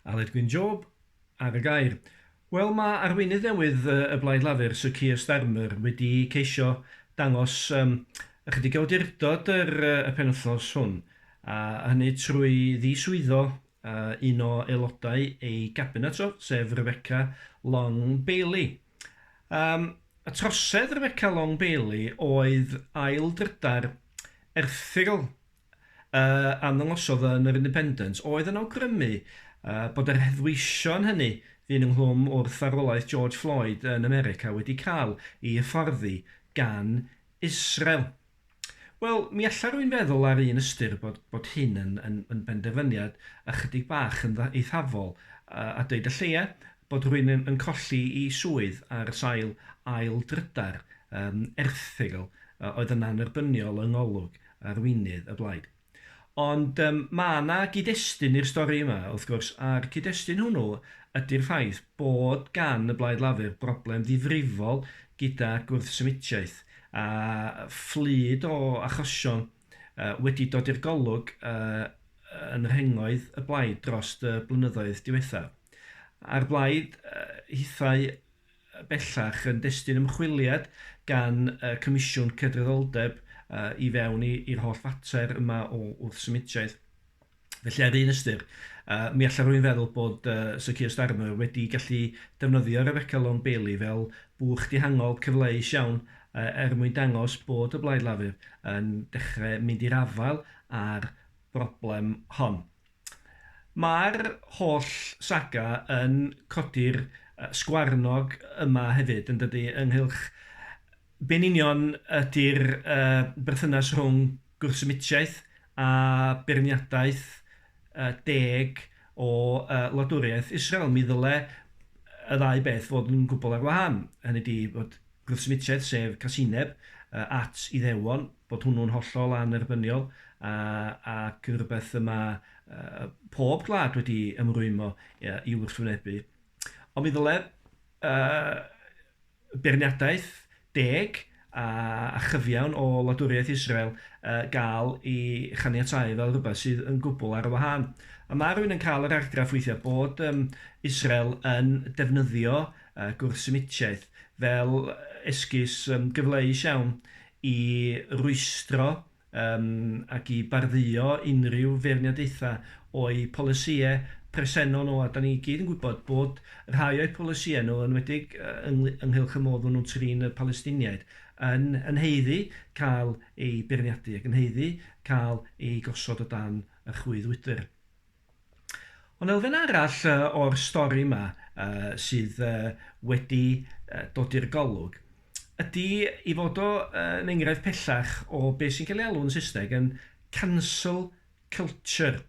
Aled Gwyn Job ar y gair. Wel, mae arweinydd newydd y Blaid Lafur, Sir Keir Starmer, wedi ceisio dangos um, ychydig o awdurdod yr, y penwythnos hwn, a hynny trwy ddiswyddo uh, un o aelodau ei gabinet o, sef Rebecca Long Bailey. Um, y trosedd Rebecca Long Bailey oedd ail drydar erthygl a arddangoswyd yn yr Independent oedd yn awgrymu bod yr heddweision hynny fu'n ynghlwm wrth farwolaeth George Floyd yn America wedi cael ei hyfforddi gan Israel. Wel, mi alla rwy'n feddwl ar un ystyr bod, bod hyn yn, yn, yn benderfyniad ychydig bach yn eithafol, a, a dweud y lleia, bod rwy'n yn, yn colli i swydd ar sail ail drydar um, erthygl uh, oedd yn annerbyniol yng ngolwg arweinydd y blaid. Ond yym ma' 'na gyd-destun i'r stori yma, wrth gwrs, a'r cyd-destun hwnnw ydi'r ffaith bod gan y Blaid Lafur broblem ddifrifol gyda gwrthsymitiaeth, a fflyd o achosion yy wedi dod i'r golwg yy yn rhengoedd y blaid drost y blynyddoedd diwethaf. A'r blaid yy hithau bellach yn destun ymchwiliad gan y Comisiwn Cydraddoldeb i fewn i'r holl fater yma o wrthsymudiaeth. Felly ar un ystyr, mi allai rhywun feddwl bod Sir Keir Starmer wedi gallu defnyddio Rebecca Long Bailey fel bwch dihangol cyfleus iawn er mwyn dangos bod y Blaid Lafur yn dechrau mynd i'r afael â'r broblem hon. Mae'r holl saga yn codi'r sgwarnog yma hefyd, yn dydi, ynghylch be yn union ydi'r berthynas rhwng gwrthsymitiaeth a beirniadaeth deg o wladwriaeth Israel. Mi ddyle y ddau beth fod yn gwbl ar wahân, hynny ydi bod gwrthsymudsiaeth sef casineb at Iddewon, bod hwnnw'n hollol annerbyniol ac yn rhywbeth y mae pob gwlad wedi ymrwymo i'w wrthwynebu. Ond mi ddylai beirniadaeth deg a chyfiawn o wladwriaeth Israel gael ei chaniatáu fel rhywbeth sydd yn gwbl ar y wahân. Mae rhywun yn cael yr argraff weithiau bod Israel yn defnyddio a gwrthsynitiaeth fel esgus gyfleus iawn i rwystro ac i bardduo unrhyw feirniadaethau o'u polisïau presennol nhw, a 'dan ni i gyd yn gwybod bod rhai o'u polisïau nhw, yn enwedig ynghylch y modd maen nhw'n trin y Palestiniaid, yn haeddu cael eu beirniadu ac yn haeddu cael eu gosod o dan y chwyddwydr. Ond elfen arall yy o'r stori 'ma yy sydd yy wedi yy dod i'r golwg ydy ei fod o yy yn enghraifft pellach o be' sy'n cael ei alw'n Saesneg yn cancel culture.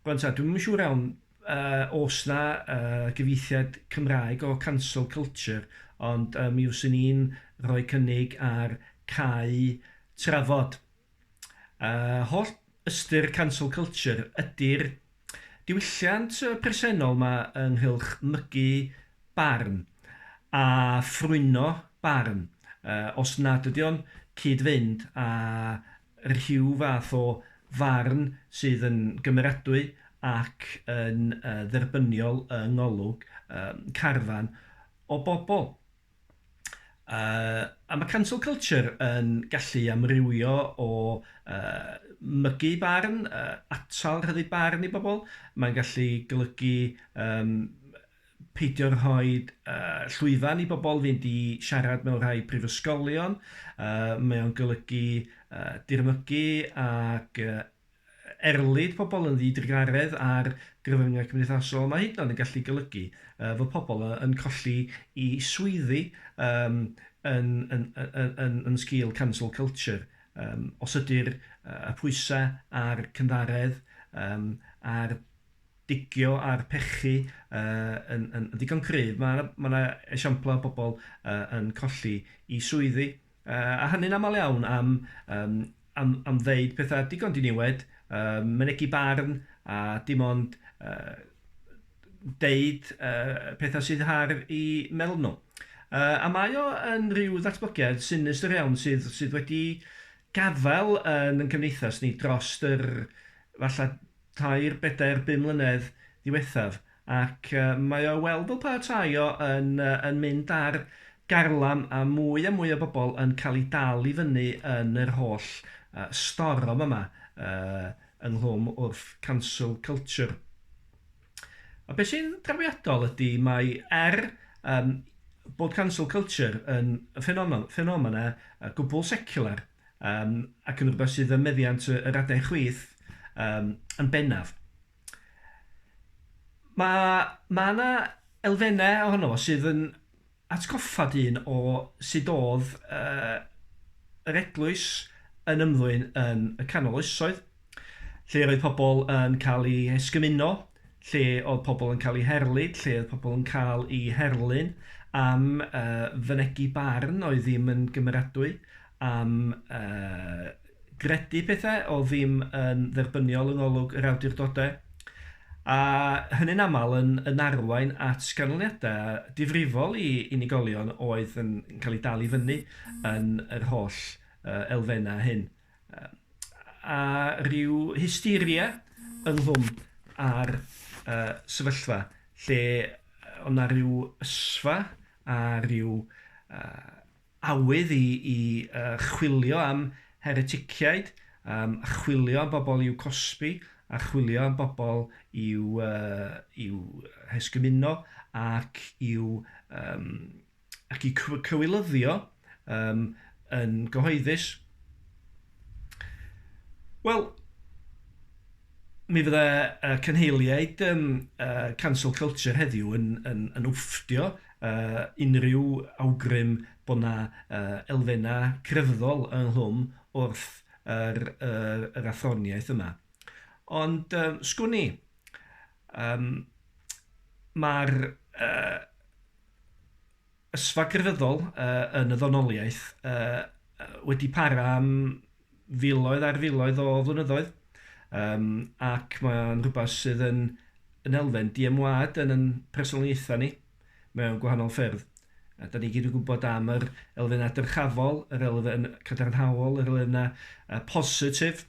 Rŵan 'ta dwi'm yn siŵr iawn yy o's 'na yy gyfieithiad Cymraeg o cancel culture ond yy mi fyswn i'n rhoi cynnig ar cau trafod. Yy holl ystyr cancel culture ydy'r diwylliant presennol 'ma ynghylch mygu barn a ffrwyno barn yy os nad ydy o'n cyd-fynd â rhyw fath o farn sydd yn gymeradwy ac yn yy dderbyniol yng ngolwg yym carfan o bobl. Uh, a mae cancel culture yn gallu amrywio o uh, mygu barn, uh, atal rhyddu barn i bobl. Mae'n gallu golygu um, peidio rhoi uh, llwyfan i bobl fynd i siarad mewn rhai prifysgolion. Uh, mae o'n golygu uh, dirmygu ac uh, erlid pobl yn ddi-drugaredd ar gyfryngau cymdeithasol, mae hyd yn oed yn gallu golygu fod pobl yn colli i swyddi um, yn, yn, yn, yn, yn sgil cancel culture. Um, os ydy'r y pwysau a'r cynddaredd um, a'r digio a'r pechu uh, yn, yn, yn ddigon cryf, mae yna ma esiamplau o bobl uh, yn colli i swyddi. Yy, a hynny'n aml iawn am, um, am, am ddeud pethau digon diniwed, um, mynegu barn, a dim ond uh, deud uh, pethau sydd har i meddwl nhw. Uh, a mae o yn rhyw ddatblygiad sinistr iawn sydd, sydd wedi gafael yn yn cymdeithas ni dros yr falle tair, bedair, bum mlynedd ddiwethaf. Ac mae o i weld fel petae o yn yn mynd ar garlam a mwy a mwy o bobl yn cael eu dal i fyny yn yr holl storom yma ynghlwm wrth cancel culture. A be sy'n drawiadol ydy mai er yym bod cancel culture yn ffenomen ffenomen gwbl seciwlar yym ac yn rhywbeth sydd ym meddiant yr adain chwith yym yn bennaf, Mae, mae 'na elfennau ohono fo sydd yn atgoffa dyn o sut oedd yy yr eglwys yn ymddwyn yn y canol oesoedd, lle roedd pobl yn cael eu hesgymuno, lle oedd pobl yn cael eu herlid, lle oedd pobl yn cael eu herlyn am yy fynegi barn oedd ddim yn gymeradwy, am gredu pethau oedd ddim yn dderbyniol yng ngolwg yr awdurdodau, a hynny'n aml yn arwain at ganlyniadau difrifol i unigolion oedd yn cael eu dal i fyny yn yr holl elfennau hyn, a rhyw hysteria ynghlwm â'r sefyllfa lle oedd 'na ryw ysfa a rhyw awydd i i chwilio am hereticiaid, yym a chwilio am bobl i'w cosbi, a chwilio am bobl i'w yy i'w hesgymuno ac i'w yym ac i'w cyw- cywilyddio yym yn gyhoeddus. Wel, Mi fydde y cynheiliaid um, uh, Cancel Culture heddiw yn, yn, yn wfftio uh, unrhyw awgrym bod yna uh, elfennau crefyddol ynghlwm wrth yr, yr, yr athroniaeth yma. Ond uh, sgwn i, um, mae'r uh, ysfa grefyddol yn y ddonoliaeth wedi para am filoedd ar filoedd o flynyddoedd, um, ac mae'n rhywbeth sydd yn, yn elfen diemwad yn yn personoliaethau ni mewn gwahanol ffyrdd. A da ni gyd yn gwybod am yr elfennau dyrchafol, yr elfen cadarnhaol, yr elfennau uh, positif,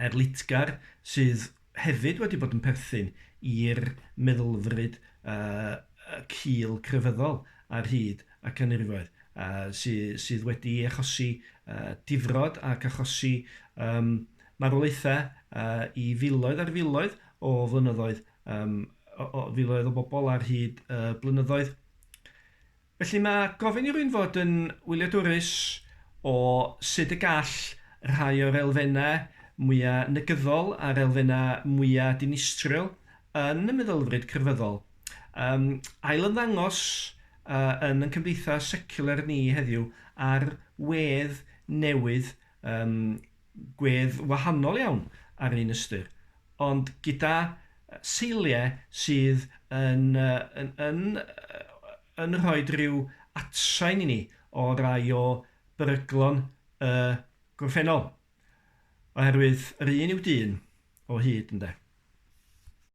erlitgar sydd hefyd wedi bod yn perthyn i'r meddylfryd cul crefyddol ar hyd y canrifoedd, sydd wedi achosi difrod ac achosi marwolaethau i filoedd ar filoedd o flynyddoedd, filoedd o bobl ar hyd y blynyddoedd. Felly mae gofyn i rywun fod yn wyliadwrus o sut y gall rhai o'r elfennau mwya' negyddol a'r elfennau mwya' dinistriol yn y meddylfryd crefyddol yym ailymddangos yy yn yn cymdeithas seciwlar ni heddiw ar wedd newydd Yn gwedd wahanol iawn ar un ystyr, ond gyda seiliau sydd yn yn yn yn rhoi rhyw atsain i ni o rai o beryglon y gorffennol, oherwydd yr un yw dyn o hyd, ynde.